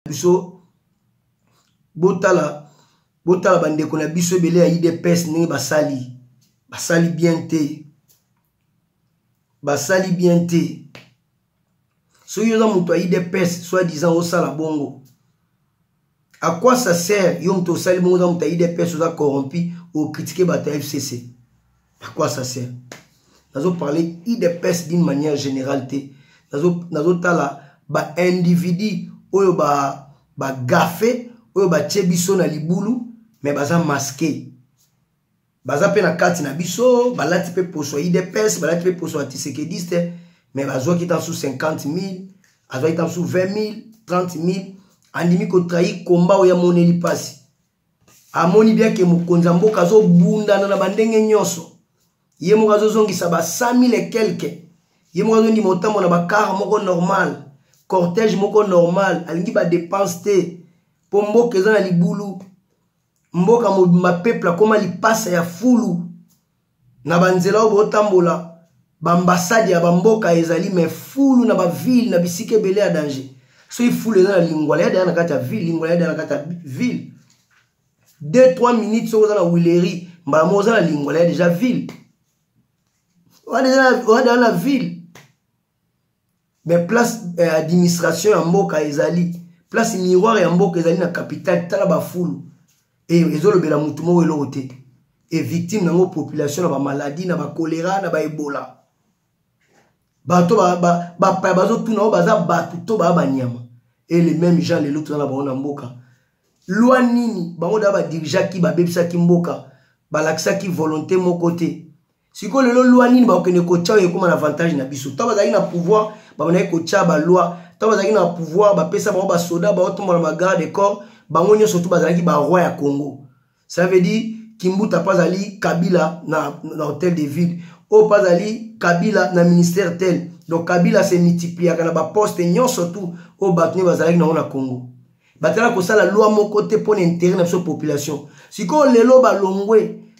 biso botala botala bandeko na biso ebele ya idps ndenge basali basali bien te basali bien te soki oza moto ya idps soit disant osala bongo à quoi ça sert yo moto osali bongo oza moto ya idps oza corrompu okritike bato ya fcc à quoi ça sert nazo parler idps d'une manière générale te nazo nazo tala ba individu oyo ba ba gafe oyo batie biso na libulu mais baza masquer baza mpe na kati na biso balati mpe poso ya idps balati mpe poso ya tisekediste me bazwaki ta su 50 000 azwaki ta su 20 000 30 000 andimi kotrahi komba oyo amoneli mpasi amoni bien ke mokonzi ya mboka azobundana na bandenge nyonso ye moko azozongisa ba 100 000 et quelque ye moko azondima otambo na bakar moko normal cortège moko normal alingi badepense te mpo mboka eza na libulu mboka mobimba peuple akóma lipasa ya fulu na banzela oyo botambola baambasade ya bamboka ezali me fulu na bavile na bisika ebele ya danger soki fulu eza na lingwala yadaya na kati ya ville lingwala yadaya na kati ya ville 2 3 minutes soki oza na wileri mbala moko oza na lingwala ya deja ville oza na ville mais place eh, administration ya mboka ezali place miroir ya mboka ezali na capitale tala bafulu e, ezolobela motu moko eloko te e victime nango population na bamaladi na bakolera na baebola bato bapaya bazotuna oyo baza bato to baa banyama e le même jean lelo toza na bango na mboka lwa nini bango da badirigeaki babebisaki mboka balakisaki volonté moko te sikoyo lelo loi nini bakokende kotya oyo ekóma na avantage na biso ntango bazalaki na pouvoir babandaki kotya baloi ntango bazalaki na pouvoir bapesa bango basoda baotombola bagarde corps bango nyonso tu bazalaki baroi ya congo ça veut dire kimbuta mpe azali kabila na, na hôtel de ville oyo mpe azali kabila na ministère tel donc kabila se multipliaka na baposte nyonso tu oyo bato nde bazalaki nango na congo batala kosala loi moko te mpo na intérêt na biso population sikoyo lelo balongwe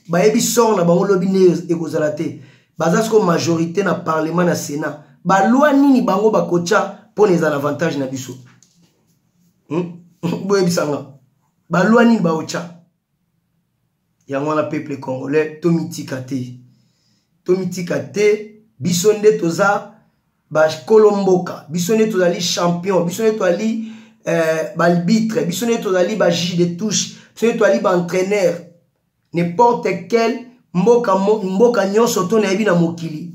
bayebi sort na bango lobi nde ekozala te baza sikoyo majorité na parlement na sénat baloi nini bango bakotya mpo na ezala avantage na biso hmm? boyebisanga baloi nini baotya yango wana peuple congolais tomitika te tomitika te biso nde toza bakolo mboka biso nde tozali champion biso nde tozali eh, balbitre biso nde tozali bajus de touche biso nde tozali baentraîneur n'importe quel mboka, mboka nyonso to nayebi na mokili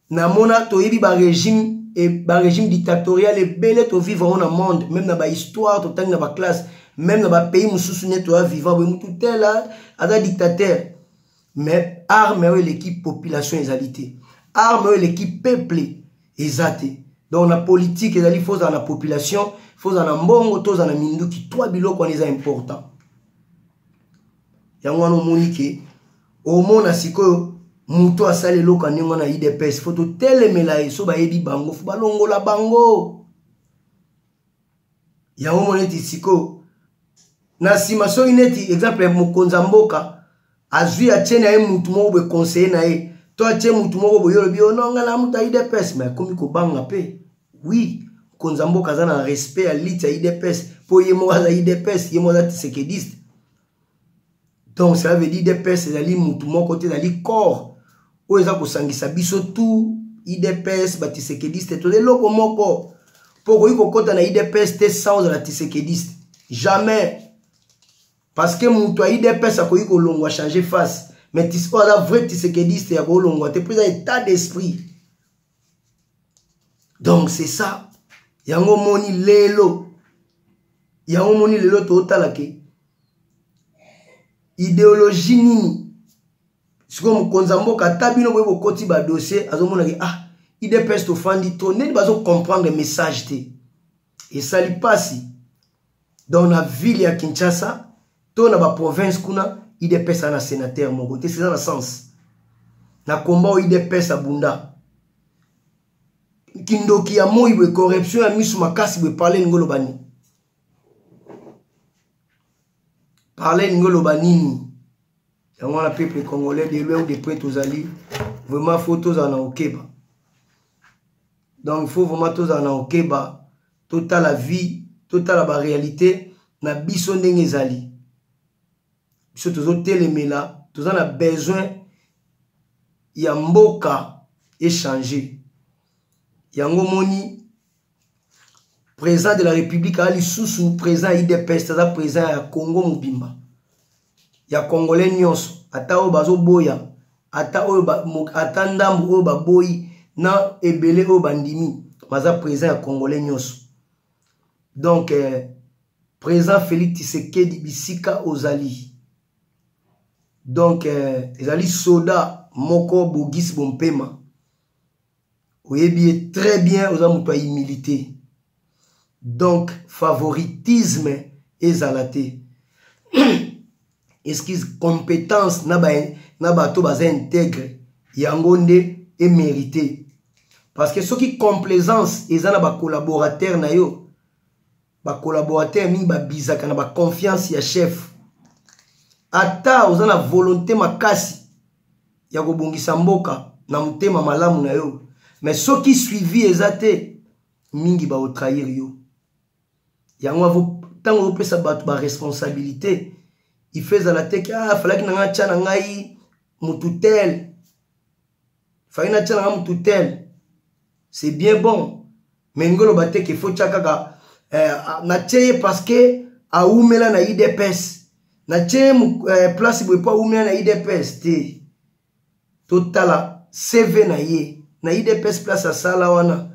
namona toyebi barégime e, barégime dictatorial ebele tovivre yango na monde meme na bahistoire totangi na baclasse meme na bapays mosusu ne toya vivant boye motu tela aza dictateur mais arme oyo eleki population ezali te arme oyo eleki peuple eza te donc na politique ezali fo ozala na population fo ozala na mbongo to ozala na minduki twa biloko wana eza important yango wana omoni ke omona sikoyo moto asali eloko ya ndenge wana idps fo totelemela ye so bayebi bango fo balongola bango yango mona eti sikoyo na nsima soki neti exemple mokonzi ya mboka azwi atie na ye motu moko boye conseiller na ye to atie motu moko boye olobi ononga oh na moto ya idps ma ekomi kobanga mpe wi mokonzi ya mboka aza na respect ya lite ya idps mpo ye moko aza idps ye moko aza tisekediste donc cela veut dire idps ezali mutu moko te ezali corps oyo eza kosangisa biso tout idps batisekediste toza eloko moko mpo okoki kokɔta na idps te sans ozala tisekediste jamais parce que moto ya idps akoki kolongwa changer face mais oyo aza vrai tisekediste ya kolongwa te mpo eza état d'esprit donc c'est ça yango omoni lelo yango omoni lelo totala ke ideologie nini sikoyo mokonzi ya mboka ata bino boye bokoti badossier azomonaki ah idps tofandi to ndeni bazocomprendre message te esali mpasi donc na ville ya kinshasa to na baprovince kuna idps na sénateur moko te seza na sens na komba oyo idps abunda kindoki ya moi boye corruption ya miso makasi boye parle elingi oloba nini parle elingi oloba nini yango wana peuple congolais de loin ou de près tozali vraiment fo tozala na okeba donc fo vraiment tozala na okeba totala vie totala barealité na biso ndenge ezali biso tozotelemela toza na besoin ya mboka echange yango moni président de la république aa lisusu président ya idps aza président ya congo mobimba ya congolais nyonso ata oyo bazoboya ata oyo ba, ata ndambu oyo baboyi na ebele oyo bandimi baza président ya congolais nyonso donc euh, président félix tisekedi bisika ozali donc euh, ezali soda moko bogisi bompema oyebi ye très bien oza moto ya humilité donc favoritisme ezala te excuse compétence na ba na bato baza integre yango nde emérite parce que soki complaisance eza na bacollaborateur na yo ba collaborateur mingi ba bizaka na ba confiance ya chef ata oza na volonté makasi ya kobongisa mboka na motema malamu na yo mais soki suivi eza te mingi baotrahir yo yango ntango opesa bato baresponsabilité ife ezala te ke ah, falaki na ngai atya na ngai motu tel falaki natya na ngai motu tel c'est bien bon me lingi oloba te ke fotya kaka eh, natye ye parceke awumela na idps natye ye eh, place boye mpo awumela na idps te totala cv na ye na idps place asala wana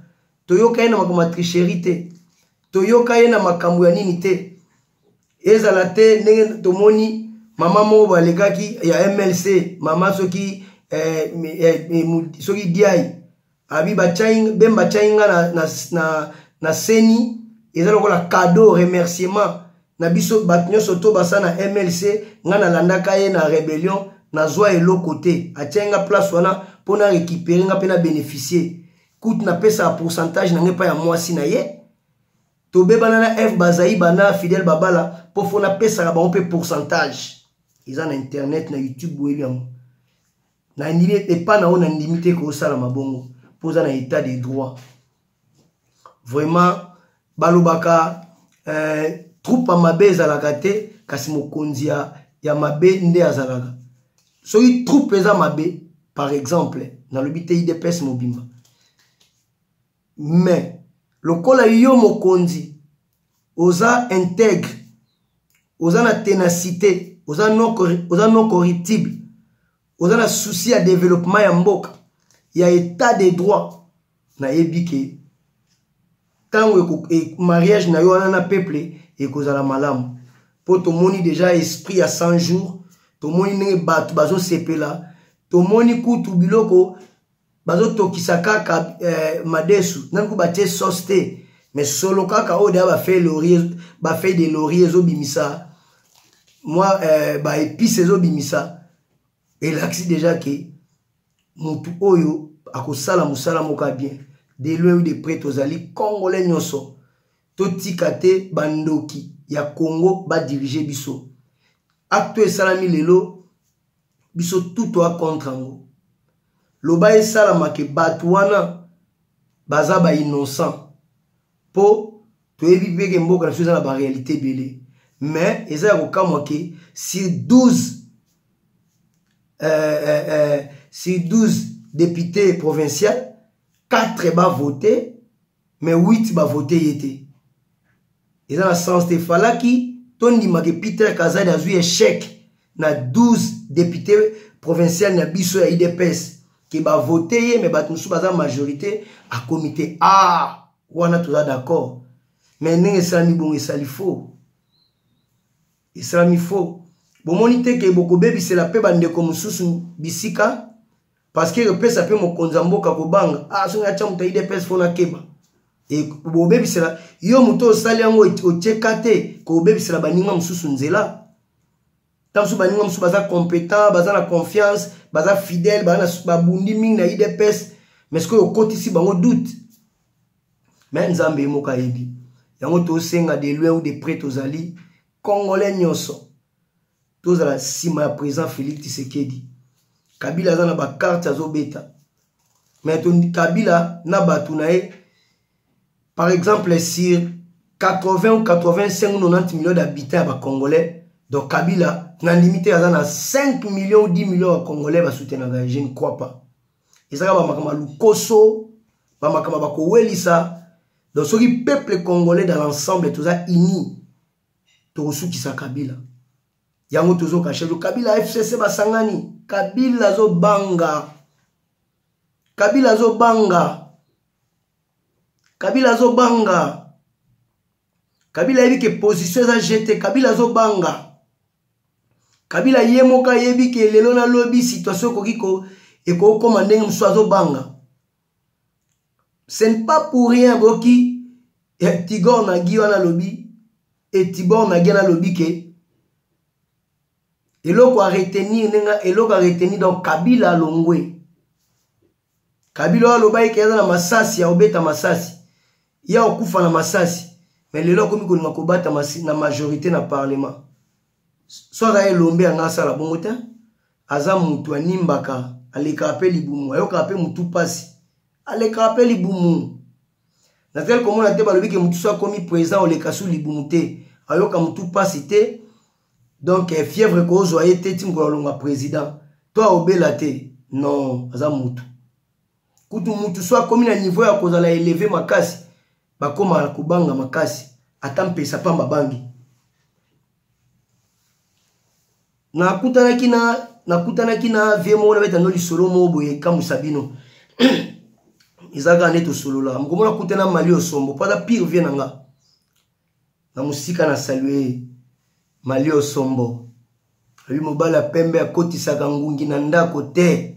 toyoka ye na makambo ya tricherie te toyoka ye na makambo ya nini te ezala te ndenge tomoni mama moko balekaki ya mlc mama soki eh, eh, eh, soki diai abi bachai bemba chai nga na, na, na, na seni eza lokola cadeau remerciement na biso bato nyonso to basa na mlc nga nalandaka ye na rebellion nazwa eloko te atyai nga place wana mpo na récupere nga mpe na bénéficier kutu napesaka pourcentage na ngai epai ya mwasi na ye tobebana na f bazai bana fidèle babala mpo fo napesaka bango mpe pourcentage eza na internet na youtube boyebi yango nandimi epa na yo nandimi te kosalama bongo mpo oza na état de droit vraiment balobaka eh, troupe ya mabe ezalaka te kasi mokonzi ya, ya mabe nde azalaka soki troupe eza mabe par exemple nalobi te idps mobimba mais lokola yo mokonzi oza integre oza na tenacité oza non, oza non corruptible oza na souci ya développement ya mboka ya état de droit nayebi ke ntango e, mariage na yo wana na peuple ekozala malamu mpo tomoni deja esprit ya 100 jours tomoni ndenge bato bazosepela tomoni kutu biloko bazotokisa kaka eh, madesu nani ku batie sauce te mais solo kaka oyo deya bafeuille laurier bafeuille de laurier ezobimisa mwa eh, baepice ezobimisa elakisi deja ke motu oyo akosala mosala moko ya bien de loin ou de près tozali congolais nyonso totika te bandoki ya congo badirige biso acte oyo esalami lelo biso tout toa contre yango loba esalama ke bato wana baza bainnocent mpo toyebi mpe ke mboka na biso eza na barealité ebele mais eza ya kokamwa ke sur 12 euh, euh, euh, sur 12 député provincial 4 bavote mais 8 bavote ye te eza na sens te falaki tondima ke peter kazadi azwi echec na 12 député provincial na biso ya idps ke bavote ye me bato mosusu baza majorité akomi te a ah, wana toza d'accord me ndenge esalami bongo esali faux esalami faux bomoni te ke bokobebisela mpe bandeko mosusu bisika parce que epesa mpe mokonzi ya mboka kobanga ah soki atya moto ya idps fona keba e, bobebisela yo moto osali yango otyeka te kobebisela baninga mosusu nzela ntango mosusu baninga mosusu baza competent baza na confiance baza fidèle babundi mingi na idps mais sikoyo okotisi bango doute me nzambe ye moko ayebi yango tosenga de loin ou de près tozali congolais nyonso tozala nsima ya président félix tisekedi kabila aza na bakarte azobeta mais kabila na bato na ye par exemple sur 80 ou 85 ou 90 millions d'habitants ya bacongolais donc kabila na ndimi te aza na 5 millions ou 10 millions ya congolais basoutenaka ye je ne crois pas ezaka bamakambo ya lokoso bamakambo bakowelisa donc soki peuple congolais dans l'ensemble toza unis tokosukisa kabila yango tozokasha yo kabila fcc basangani kabila azobanga kabila azobanga kabila azobanga kabila ayebi ke position eza jete kabila azobanga kabila ye moko ayebi ke lelo nalobi situation ekoki ekokoma ndenge mosusu azobanga ce n'est pas pour rien boki eh, tigor nagi wana alobi e tibor nagi wana alobi ke eloko aretenir ndenge eloko aretenir donc kabila alongwe kabila oyo alobaki ke aza na masasi ya kobeta masasi ye akokufa na masasi me lelo akomi kolinga kobata na majorité na parlement so aza elombe yanga asala bongo te aza mutu animbaka alekaka mpe libumu ayokaka mpe mutu mpasi alekaka mpe libumu nazali komona te balobi ke mutu so akomi président oleka su libumu te ayoka mutu mpasi te donc eh, fièvre ekozwa ye te ti mokolo alonga président to aobela te non aza mutu kutu mutu so akomi na niveau ya kozala eleve makasi bakoma kobanga makasi ata mpesa pamba bangi nakutanaki na nakutanaki na vie moko nabeta no lisolo moko boye ekamwisa bino eza kaka nde tosolola mokomo nakutana mali osombo mpo aza pire vie na nga na mosika na salue mali osombo abi mobali ya pembe akotisaka ngungi na ndako te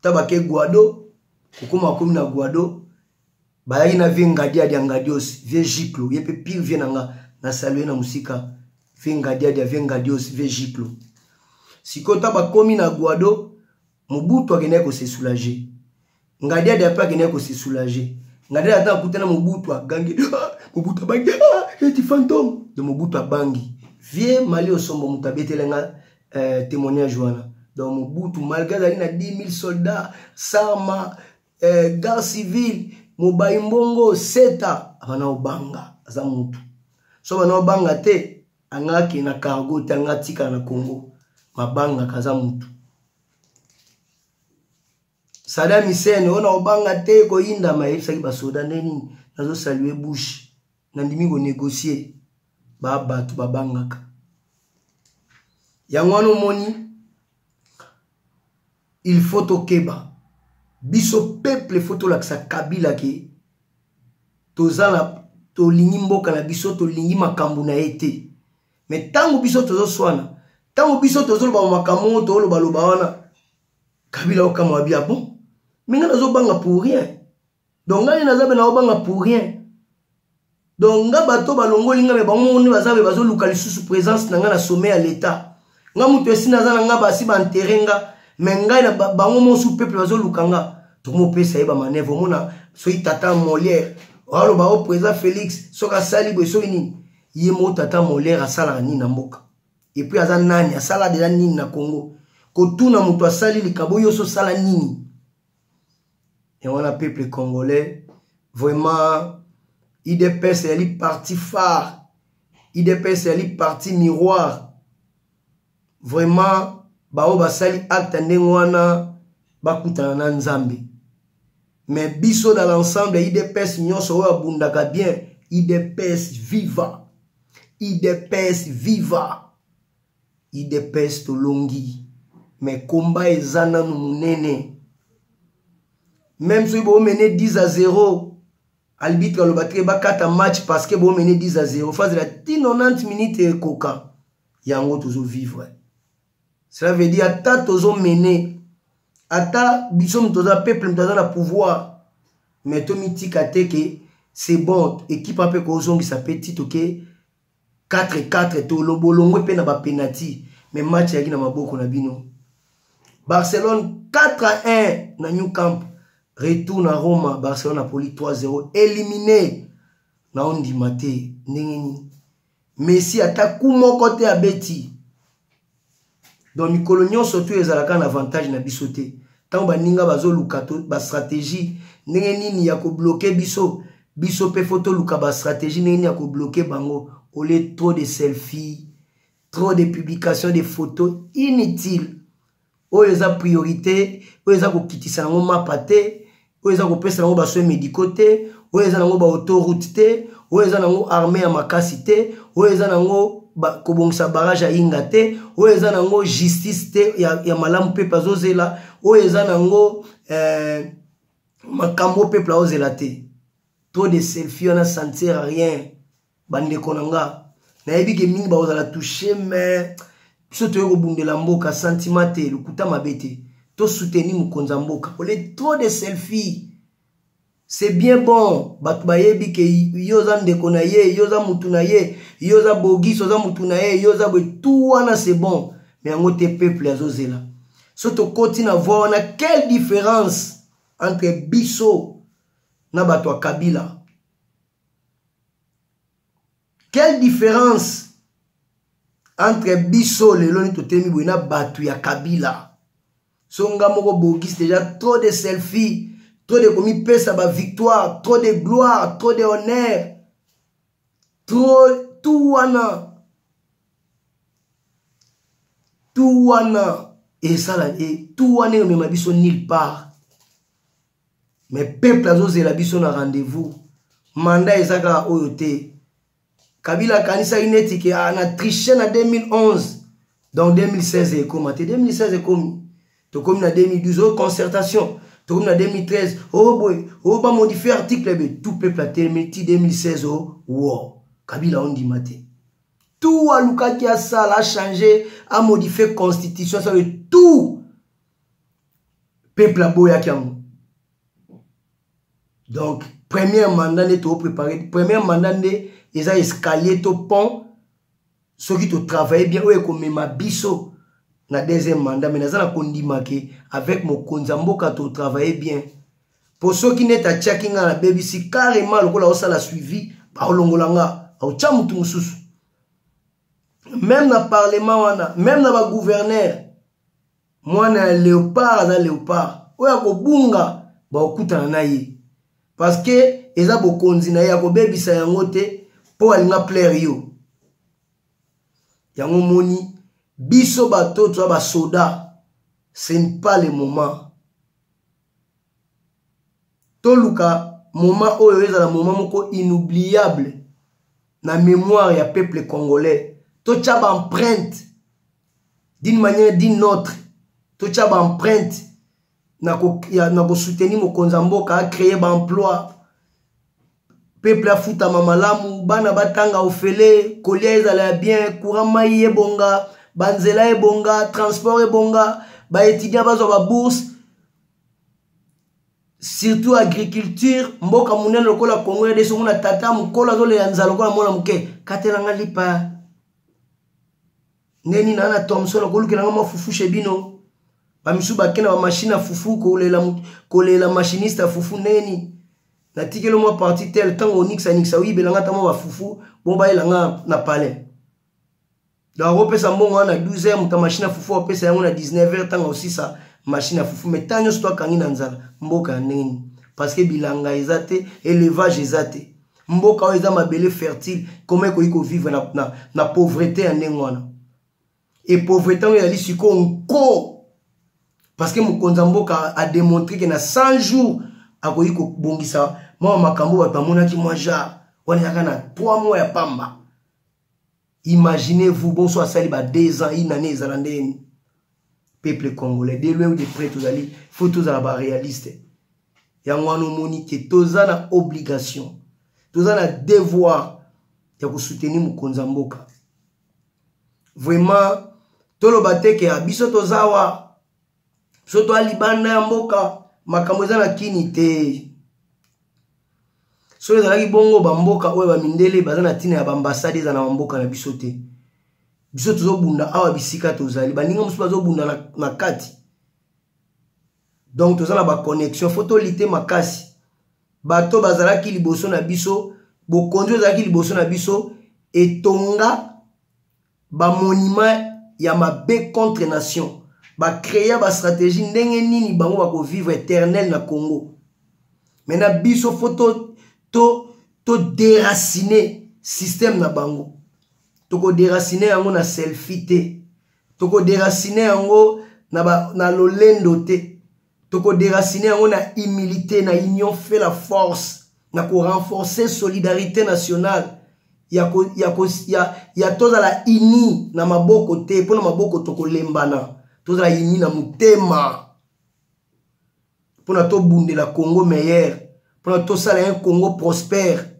ta bake guado kokoma akomi na guado bayaki na vie ngadia dia ngadios vie giclo ye mpe pire vie na nga na salue na mosika vie ngadia dia vie ngadios vie giclo sikoyo ta bakomi na guado mobutu akendaki kose soulager ngadia dia mpe akendaki kose soulager ngadia ata akutana mobutu agangi ah, mobutu abangi ah, eti fantome de mobutu abangi vie mali osombo moto abetele nga eh, témoignage wana donc mobutu malgré azalaki na 10 000 soldats sama eh, garde civile mobayi mbongo seta abana obanga aza mutu so bana obanga te anga akende na cargo te anga atikala na congo mabangaka aza mutu Saddam Hussein oyo naobanga te koyindama ayebisaki basoda nde nini nazosalue bush nandimi konegocie babato babangaka yango wana omoni il faut tokeba biso peuple faut tolakisa kabila ke toza na tolingi mboka na biso tolingi makambo na ye te me ntango biso tozoswana ntango biso tozoloba makambo oyo tolobaloba wana kabila okamwa bi abon ah minga nazobanga pour rien donc ngai naza mpe naobanga pour rien donc nga bato balongoli nga me bango moko nde baza mpe bazoluka lisusu présence na ngai na sommet ya l'état nga moto esi naza na nga basi baentere nga me ngai na bango mosu peuple bazoluka nga tomopesa ye bamanevre omona soki tata molière aloba o oh, président félix soki asali boye soki nini ye moko tata molière asalaka nini na mboka epuis aza nani asala deja nini na congo kotuna moto asali likabo yo so sala nini yango wana peuple congolais vraiment idps eyali parti phare idps eyali parti miroir vraiment baoyo basali acte ndenge wana bakutana na nzambe mais biso dans l'ensemble idps nyonso oyo abundaka bien idps viva idps viva idps tolongi mais komba eza nanu monene même soki boomene 10 à 0 albitre aloba te bakata match parce que boomene 10 à 0 fazela ti 90 minute ekoka yango tozovivre cela veut dire ata tozo mene ata biso moto toza peuple moto aza na pouvoir mais tomitika te ke c'est bon ekipe mpe kozongisa mpe tito ke 4-4 tolobolongwe mpe na bapenati mais match eyaki na maboko na bino barcelone 4 à 1 na new camp retour na roma barcelone apoli 3-0 éliminé na ondima te ndenge nini messi ata ku moko te abeti donc mikolo nyonso tu ezalaka na avantage na biso te ntango baninga bazoluka bastratégie ndenge nini ya kobloke biso biso mpe fo toluka bastratégie ndenge nini ya kobloke bango olie trop de selfie trop de publication de photo inutile oyo eza priorité oyo eza kokitisa yango mapa te oyo eza kopesa yango basoin médicaux te oyo eza nango baautourute te oyo eza nango armée ya makasi te oyo eza nango kobongisa barrage ya inga te oyo eza nango justice te ya, ya malamu pepe azozela oyo eza nango eh, makambo peple aozela te trop de selfie wana sentir rien bandeko na nga nayebi ke mingi bakozala touche mais biso toye kobundela mboka santima te lokuta mabe te tosuteni mokonzi ya mboka ole trop de selfie c'est bien bon bato bayebi ke yo oza ndeko na ye yo oza motu na ye yo oza bogis oza motu na ye yo oza boye tout wana c'est bon me yango te peuple azozela so tokoti na voi wana quelle différence entre biso na bato ya kabila quelle différence entre biso lelo ni totemi boye na bato ya kabila so nga moko bogis deja trop de selfie trop de komipesa bavictoire trop de gloire trop de honneur trop tout wana tout wana esala e tout wana emema biso nil part me peuple azozela biso na rendez-vous manda eza kaka oyo te kabila akanisaki neti ke ah, na triche na 2011 donc 2016 ekoma te 2016 ekomi tokomi na 2012 oyo concertation tokomi na 2013 oyo boye oyo bamodifie article ebe tout peuple atelemi ti 2016 o wo kabila ondima te tout alukaki asala achange amodifie constitution sabe tout peuple aboyaki yango donc première mandat nde tooprépare première mandat nde eza escalier to pont soki totravaille bien oyo ekomema biso na deuxième mandat mai naza na kondima ke avec mokonzi ya mboka totravaille bien mpo soki neti atiaki ngai nabebisi carrément lokola osala suivi baolongola nga aotya motu mosusu meme na parlement wana meme na bagouverneur mwana ya leopard aza leopard oyo akobunga bakokutana na ye parceke eza bokonzi na ye akobebisa yango te mpo alinga plaire yo yango moni biso bato toza basoda ce n'est pas le moment toluka moment oyo ezala moment moko inoubliable na mémoire ya peuple congolais totya baempreinte d'une manière d'une autre totya baempreinte na kosoutenir mokonzi ya mboka acreye baemploi peuple afutama malamu bana batanga ofele kolia ezala ya bien courant mai ebonga banzela ebonga transport ebonga baétudiant bazwa babourse surtout agriculture mboka monene lokola congo ya deso mona tata mokolo azolela nzala lokola mwana moke katelanga lipa ndenge nini ana thomson okolukelanga mwa fufu chez bino bamisusu bakenda bamashine ya fufu kolela machiniste ya fufu ndenge nini natikeli mwa parti tel ntango onikisaningisa oyibela nga ata mwa bafufu bongo bayela nga na palais donc akopesa mbongo wana na 12 heure moto ya mashine ya fufu apesa yango na 19 heure ntango osisa mashine ya fufu mai ntango nyonso to akangi na nzala mboka ya ndenge nini parce que bilanga eza te élevage eza te mboka oyo eza mabele fertile koma ekoki kovivre na, na, na pauvrete ya ndenge wana epauvreté yango ezali sikoyo nko parce que mokonzi ya mboka ademontre ke na 100 jours akoki kobongisa mwa makambo bato bamonaki mwa genre wana ezaka na 3 mois ya pamba imaginez vous bonso asali ba 2 ans une année ezala ndeni peuple congolais de loin ou de près tozali faut tozala baréaliste yango wana omoni ke toza na obligation toza na devoir ya kosoutenir mokonzi ya mboka vraiment toloba te ke ah, biso toza wa biso toa libanda ya mboka makambo eza na kini te soki ezalaki bongo bamboka oyo bamindele baza na ntina ya baambasade eza na bamboka na biso te biso tozobunda awa bisika tozali baninga mosusu bazobunda na, na kati donc toza na baconnexion fo tolite makasi bato bazalaki liboso na biso bokonzi oyo ezalaki liboso na biso etonga bamonima ya mabe contre nation bacrea bastratégie ndenge nini bango bakovivre éternel na congo mai na biso fo to, to, to déracine système na bango tokoderacine yango na selfie te tokoderasine yango na, ba, na lolendo te tokoderasine yango na humilité na union fait la force na korenforce solidarité nationale ya, ko, ya, ko, ya, ya tozala ini na maboko te mpo na maboko tokolembana tozala ini na motema mpo na tobundela congo meilleur mpo na tosala un congo prospère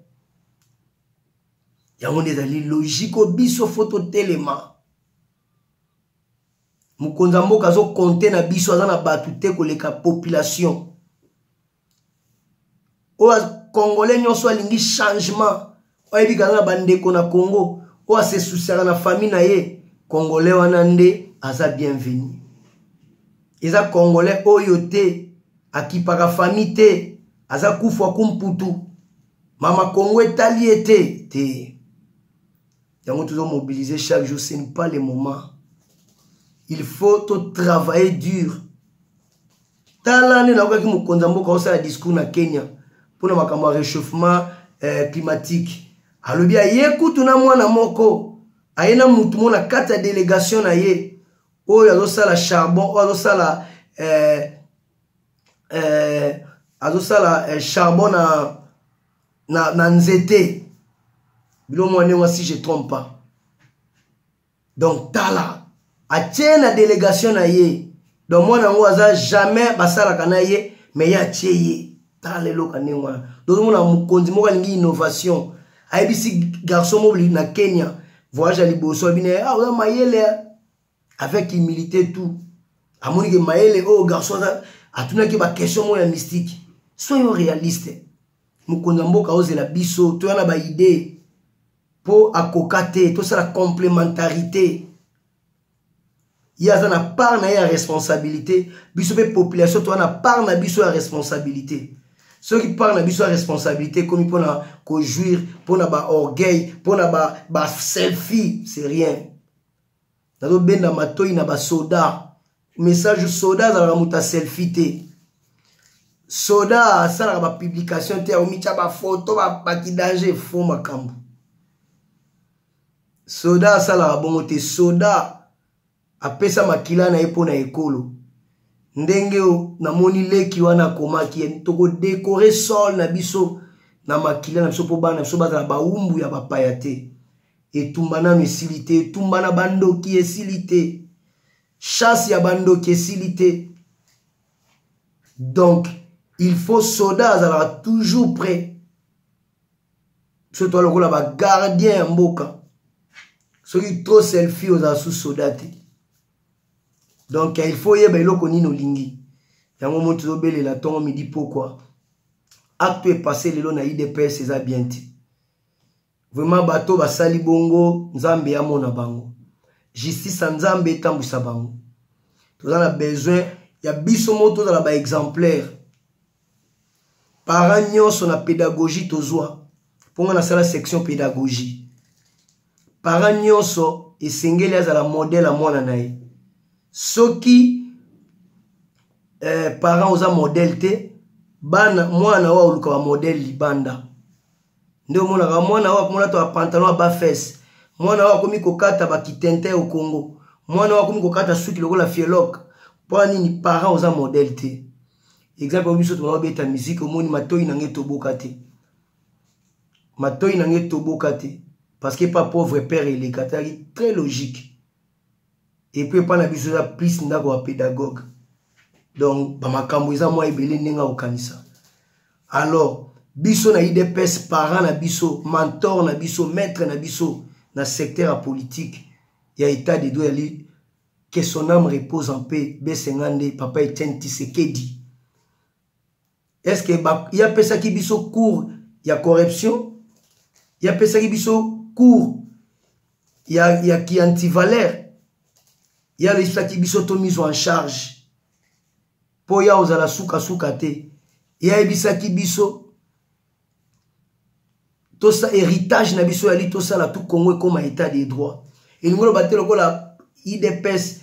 yango nde ezali logiko biso fo totelema mokonzi ya mboka azokonte na biso aza na bato te koleka population oyo congolais nyonso alingi changement oyebi kaza na bandeko na congo oyo asesusiaka na famille na ye congolais wana nde aza bienvenu eza congolais oyo te akipaka famille te aza kufu akumputu mama kongo etali ye te te yango tozo mobiliser chaque jour ce n'est pas le moment il faut to travailler dur tala nde nakokaki mokonzi ya mboka osala discours na kenya mpo na makambo ya réchauffement eh, climatique alobi aye kutu na mwana moko aye na motu moko na kati ya délégation na ye oyo azosala charbon oyo azosala eh, eh, azosala eh, charbon na na, na nzete bilo mwa ndenge si je trompe pas donc tala atie na délégation na ye donc mwana yango aza jamais basalaka na ye me ye atie ye tala lelo ka ndenge wana tozomona mokonzi moko alingi innovation ayebisi garçon moko na kenya voyage ya liboso abi na ye ah, oza mayele avec humilité tout amoni ke mayele oyo oh, garçon aza atunaki baquestion moko ya mystique soyo réaliste mokonzi ya mboka ozela biso toya na baidee mpo akoka te tosala complémentarité ye aza na part na ye ya responsabilité biso mpe population toza na part na biso ya responsabilité soki part na biso ya responsabilité ekomi mpo na kojouir mpo na baorgueil mpo na baselfie c'est rien nazobenda matoi na basoda message soda azalaka moto ya selfie te soda asalaka bapublication te aomitya bafoto bakidange fo makambo soda asalaka bongo te soda apesa makila na ye mpo na ekolo ndenge namoni leki wana akomaki tokodekore sol na biso na makila na biso mpo bana biso bazala bawumbu ya bapaya te etumba nanu esili te etumba na bandoki esili te chasse ya bandoki esili te donc il faut soda azalaka toujours prêt biso toa lokola bagardien ya mboka soki trop selfie ozala su soda te donc il faut oyeba eloko nini olingi yango moto tozobelela ntongo midi pokwa acte epasse lelo na idps eza bien te vraiment bato basali bongo nzambe amona bango justice ya nzambe etambwisa bango toza na besoin ya biso moko tozala baexemplaire parent nyonso na pédagogie tozwa mpo ngai nasala section pédagogie parent nyonso esengeli azala modele ya mwana na ye soki eh, parent oza modele te bana mwana oyo oluka bamodele libanda nde omonaka mwana oyo akomona to apantalon aba fese mwana oyo akomi kokata bakitente au congo mwana oyo akomi kokata suki lokola fieloke mpo nini parent oza modele te exemple biso tomama beta miziki omoni matoi na ngai toboka te matoi na ngai toboka te parce que pa pauvre père eleka tozalaki très logique epuis epa na biso eza plus ndako ya pédagogue donc bamakambo eza mwa ebele ndenge akokanisa alors biso na idps parent na biso mentor na biso maître na biso na secteur ya politique ya état de droit yali que son âme repose en paix besenga nde papa etienne tisekedi est ce que ye apesaki biso cours ya corruption ye apesaki biso cours ya, ya kiantivaleur ye aloyisaki biso to mise en charge mpo ya ozala sukasuka te ye ayebisaki biso tosa héritage na biso yali tosala tout congo ekoma état de droit elingi oloba te lokola idps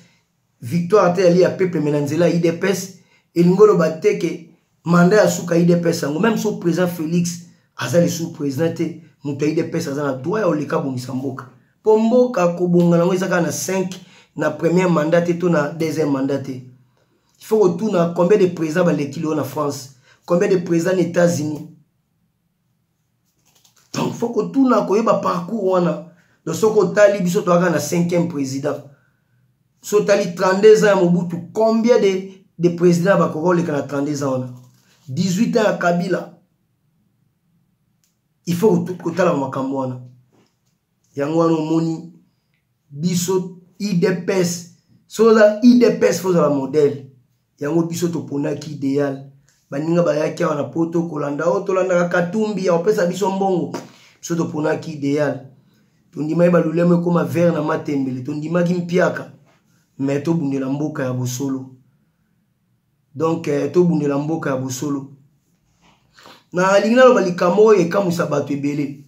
victoire te yali ya peuple me na nzela ya idps elingi oloba te ke mandat ya suka idps yango meme so président félix aza lisusu président te moto ya idps aza na droit ya oleka abongisa mboka mpo mboka kobonga nango eza kaka na 5 na premier mandat te to na deuxième mandat te il faut kotuna combien de président baleki lelo na france combien de président na états-unis donc fo kotuna koyeba parcours wana donc soki otali biso toyaka na 5e président so otali 32 ans ya mobutu combien de, de président bakoka oleka na 32 ans wana 18 ans ya kabila il faut kotalaka makambo wana yango wana omoni biso idps soki oza idps fo ozala modèle yango biso toponaki ideal baninga bayaki awa na poto kolanda oyo oh, tolandaka katumbi ya kopesa biso mbongo biso toponaki ideal tondimaki balulemo ekoma vere na matembele tondimaki mpiaka me tobundela mboka ya bosolo donk eh, tobundela mboka ya bosolo nalingi naloba likambo oyo ekamwisa bato ebele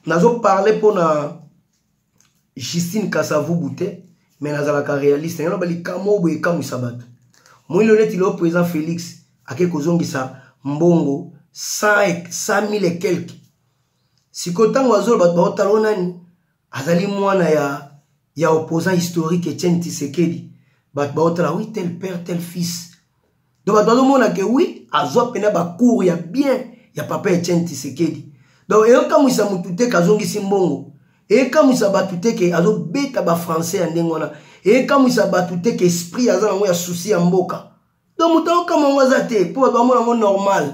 nazoparle mpo na justine kasavubu te me nazalaka realiste yango naloba likambo oyo boye ekamwisa bato moyini lelo neti leo président félix ake kozongisa mbongo 1000 et quelque sikoyo ntango azoloba bato baotala o nani azali mwana ya, ya opposant historique etienne tisekedi bato baotala oui tel père tel fils donc bato bazomona ke wi azwa mpena bacour ya bien ya papa etienne tisekedi donc eyokamwisa motu te ke azongisi mbongo ekamwisa bato te ke azobeta bafrançais ya ndenge wana ekamwisa bato te ke esprit aza nango ya susi ya mboka donc moto aokama yango aza te mpo bato bamona yango normal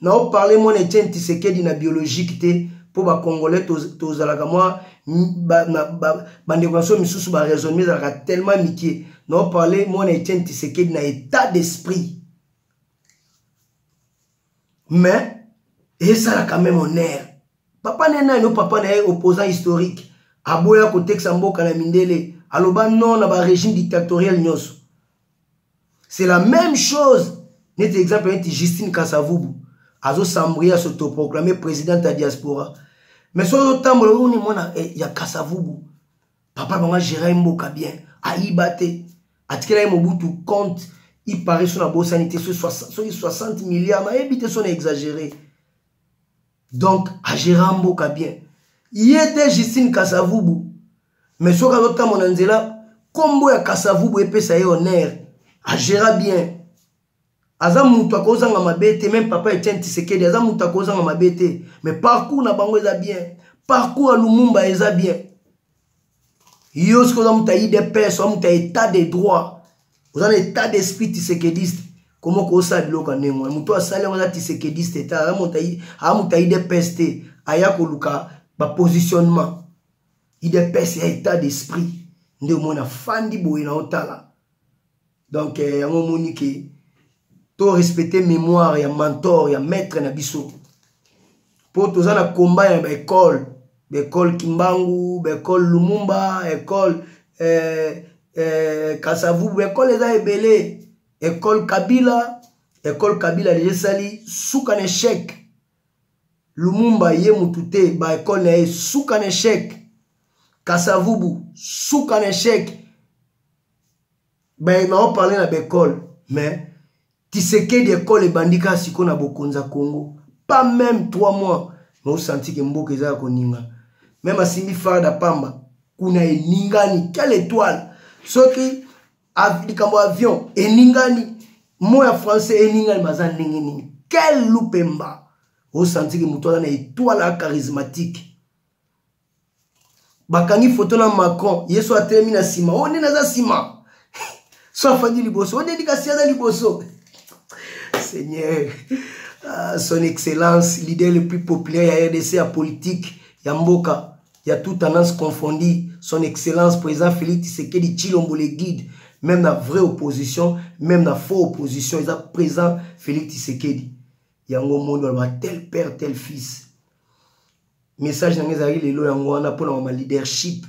na oparle mwana etienne tisekedi na biologique te mpo bacongolais tozalaka mwa bandeko na so misusu baraisonnement ezalaka tellement mikie na oparle mwana etienne tisekedi na état d'esprit mais esalaka meme honneur papa na ye nani o papa na ye opposant historique aboya kotekisa mboka na mindele aloba non na barégime dictatoriel nyonso c'est la même chose neti exemple neti justine kasavubu azosambrie asotoproclame présidente ya diaspora mais soki ozotambola omoni mwana eh, ya kasavubu papa bango agera ye mboka bien ayiba te atikela ye mobutu compte ipare so na bosani te soki 60 milliard nayebi te so na exagere donc agera mboka bien ye te justine kasavubu mais soki azotambo na nzela nkombo ya kasavubu epesa ye honneur agera bien aza moto akozanga mabe te meme papa etienne tisekedi aza moto akozanga mabe te mais parcours na bango eza bien parcours ya lumumba eza bien yo soki oza moto ya idps oza moto ya état de droit oza na état d'esprit tisekediste koma okosala biloko ya ndenge wana moto asali yango aza tisekediste te aza moto ya idps te aya koluka bapositionnement idps ya état d'esprit nde omona fandi boye na otala donc eh, yango omoni ke to respecte mémoire ya mentor ya maître na biso mpo toza na combat ya baekole baekole kimbangu baekole lumumba ekole eh, eh, kasavubu baekole eza ebele ekole kabila ekole kabila deja esali suka na echec lumumba ye motu te baekole na ye suka na echec kasavubu suka na echec baye nao parle na baekole mais tisekedi ekole ebandi kaka sikoyo na bokonzi ya congo pas même 3 mois mais osanti ke mboka eza ya koninga meme asimbi farda pamba kuna eningani quelle étoile soki likambo avion eningani mo ya français eningani baza ndenge nini quel lupemba osanti ke moto aza na étoile ya charismatique bakangi foto na macron ye so atelemi na nsima oyo nde naza nsima so afandi liboso oyo nde kasi aza liboso seigneur ah, son excellence leader le plus populaire ya rdc ya politique ya mboka ya tout tendance confondu son excellence président félix tshisekedi tshilombo le guide même na vraie opposition même na faux opposition eza président félix tshisekedi yango omoni oloba tel père tel fils message na ngai ezalaki lelo yango wana mpo na mama leadership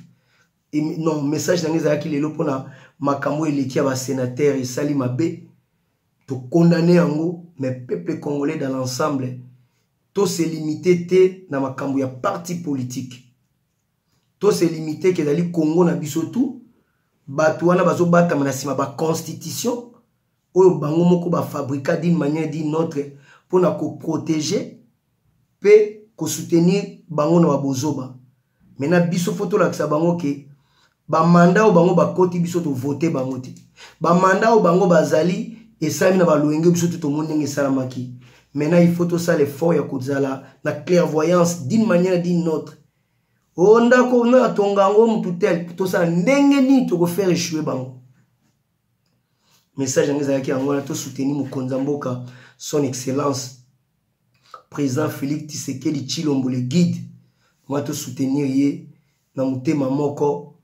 non message na ngai ezalaki lelo mpo na makambo eleki ya basenatere esali mabe tokondane yango mais peuple congolais dans l'ensemble tose limite te na makambo ya parti politique tose limite ke ezali congo na biso tu bato wana bazobatama na nsima baconstitution oyo bango moko bafabrika d'une manière d'une autre mpo na koprotege mpe kosoutenir bango na babozoba mena biso fo tolakisa bango ke bamanda oyo bango bakoti biso tovote bango te bamanda oyo bango bazali esalami na baloyenge biso te tomoni ndenge esalamaki maintenant il faut tosala effort ya kozala na clairvoyance d'une manière d'une autre o oh, ndako natonga yango motu tel tosala ndenge nini tokofaire echoue bango message yango ezalaki yango wana tosuteni mokonzi ya mboka son excellence président félix tisekedi chilombo le guide mwa tosoutenir ye na motema moko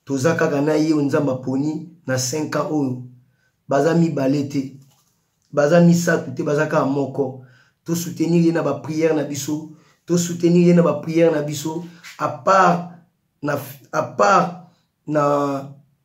toza kaka na ye oyo nzambe aponi na 5 ans oyo baza mibale te baza misato te baza kaka moko tosoutenir ye na bapriere na biso tosoutenir ye na bapriere na biso apart na, apart na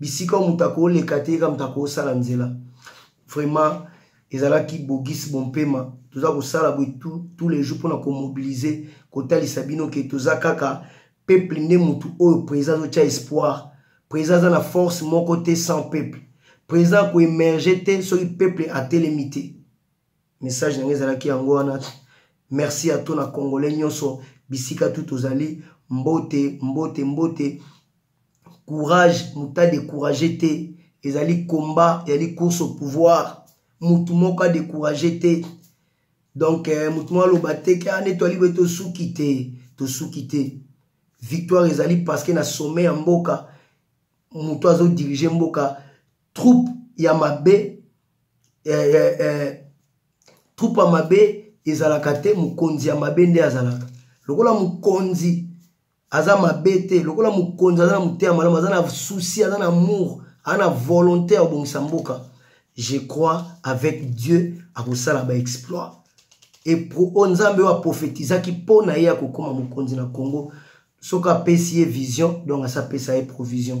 bisika oyo moto akoleka te yeka moto akosala nzela vraiment ezalaki bogis bompema toza kosala boye tous les jours mpona komobilize kotalisa bino ke toza kaka peuple nde motu oyo président azotya espoir président aza na force moko te sans peuple président akoemerge te soki peuple atelemi te message na ngai ezalaki yango wana merci ato na congolais nyonso bisika tu tozali mbote mbote mbote courage moto adecourage te ezali combat ezali course au pouvoir motu moko adecourage te donc eh, motu moko aloba te ke ane toali boye tosuki te tosuki te victoire ezali parce que na sommet ya mboka moto azodirige mboka troupe ya mabe eh, eh, eh, troupe ya mabe ezalaka te mokonzi ya mabe nde azalaka lokola mokonzi aza mabe te lokola mokonzi aza na moteya malamu aza na souci aza na amour aza na volonté ya kobongisa mboka je crois avec dieu akosala baexploit epro oyo nzambe oyo aprofetizaki mpo na ye akokoma mokonzi na congo soki apesi ye vision donc asapesa ye provision